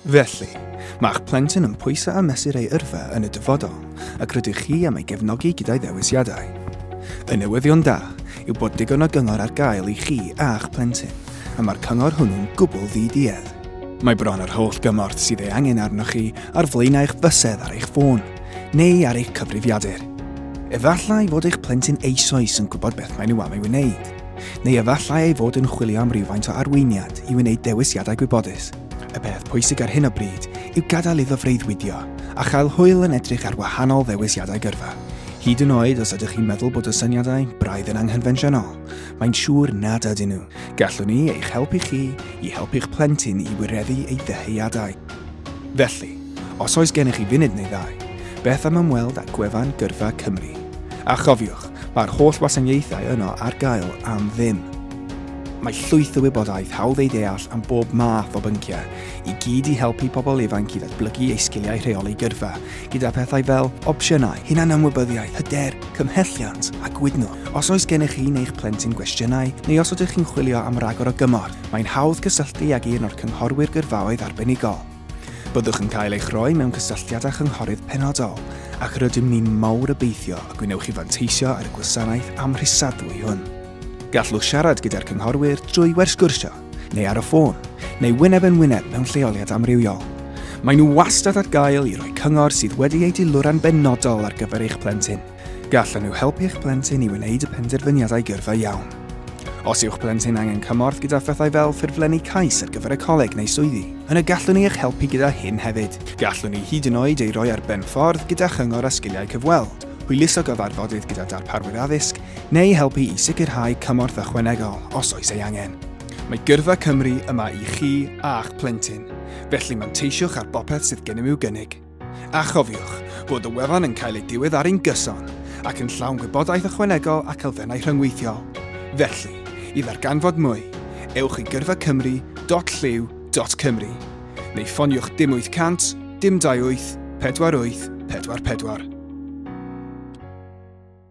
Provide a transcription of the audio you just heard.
Felly, mae'ch plentyn yn pwysau a mesur ei yrfa yn y dyfodol, ac rydych chi am ei gefnogi gyda'i ddewisiadau. Y newyddion da yw bod digon o gyngor ar gael i chi a'ch plentyn, a mae'r cyngor hwnnw'n gwbl ddi-duedd. Mae bron yr holl gymorth sydd ei angen arnoch chi ar flaenau'ch bysedd ar eich ffôn. neu ar eich cyfrifiadur. Efallai fod eich plentyn eisoes yn gwybod beth maen nhw am ei wneud, neu efallai ei fod yn chwilio am rywfaint o arweiniad i wneud dewisiadau gwybodus. Y peth pwysig ar hyn o bryd yw gadael iddo freuddwydio a chael hwyl yn edrych ar wahanol ddewisiadau gyrfa. Hyd yn oed os ydych chi'n meddwl bod y syniadau braidd yn anghynfensiynol, mae'n siŵr nad ydyn nhw. Gallwn ni eich helpu chi i helpu'ch plentyn i wireddu ei ddyheadau. Felly, os oes gennych chi funud neu ddau, beth am ymweld â gwefan Gyrfa Cymru? A chofiwch, mae'r holl wasanaethau yno ar gael am ddim. Mae llwyth o wybodaeth hawdd ei ddeall am bob math o bynciau, i gyd i helpu pobl ifanc i ddatblygu eu sgiliau rheoli gyrfa, gyda phethau fel opsiynau, hunanymwybyddiaeth, hyder, cymhelliant a gwydnwch. Os oes gennych chi neu'ch plentyn gwestiynau, neu os ydych chi'n chwilio am ragor o gymorth, Mae'n hawdd cysylltu ag un o'r Cynghorwyr Gyrfaoedd Arbenigol. Byddwch yn cael eich rhoi mewn cysylltiad â chynghorydd penodol ac rydym ni'n mawr obeithio y gwnewch chi fanteisio ar y gwasanaeth amhrisadwy hwn. Gallwch siarad gyda'r cynghorwyr drwy wersgwrsio neu ar y ffôn, neu wyneb yn wyneb mewn lleoliad amrywiol. Maen nhw wastad ar gael i roi cyngor sydd wedi ei diluro'n benodol ar gyfer eich plentyn. Gallan nhw helpu'ch plentyn i wneud y penderfyniadau gyrfa iawn. Os yw'ch plentyn angen cymorth gyda phethau fel ffurflenni cais ar gyfer y coleg neu swyddi, yna gallwn ni eich helpu gyda hyn hefyd. Gallwn ni hyd yn oed ei roi ar ben ffordd gyda chyngor a sgiliau cyfweld, hwyluso gyfarfodydd gyda darparwyr addysg, neu helpu i sicrhau cymorth ychwanegol os oes ei angen. Mae Gyrfa Cymru yma i chi a'ch plentyn, felly manteisiwch ar bopeth sydd gennym i'w gynnig. A chofiwch bod y wefan yn cael ei diweddaru'n gyson ac yn llawn gwybodaeth ychwanegol ac elfennau rhyngweithiol. Felly, i ddarganfod mwy, ewch i gyrfacymru.llyw.cymru neu ffoniwch dim 800 dim 28 48 44.